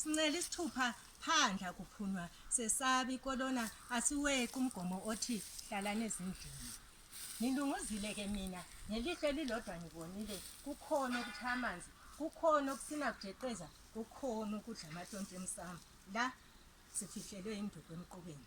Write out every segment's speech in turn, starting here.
Sincela isithupha phandla kuphunywa sesabi kolona asiweqi umgomo othi hlalani ezindlini. Ngilunguzile ke mina ngelihlo elilodwa ngibonile kukhona okuthi amanzi kukhona okusina kujeqeza kukhona ukudla amatonti emsamo la sifihlelwe induku emqubeni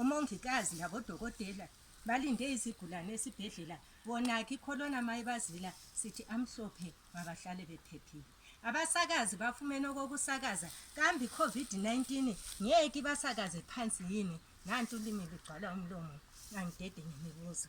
Omongikazi labodokotela balinde izigulane esibhedlela bonakhe ikholona mayibazila sithi amhlophe mabahlale bephephile abasakazi bafumene okokusakaza kambe i-covid-19 ngeke ibasakaze phansi yini nanti ulimi lugcwala umlomo angidede ngemibuzo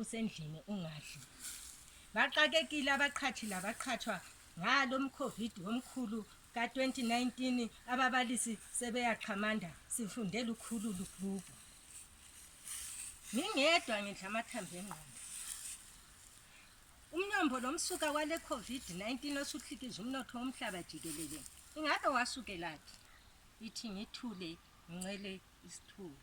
usendlini ungadli. Baxakekile abaqhathi labaqhathwa ngalo mkhovid womkhulu ka-2019 ababalisi sebeyaxhamanda sifunde lukhulu lubhubhu. Ngingedwa ngidla amathambo engqondo. Umnyombo lo msuka wale COVID-19 osuhlikiza umnotho womhlaba jikelele ingabe wasukelaphi? Ithi ngithule ngincele isithuba.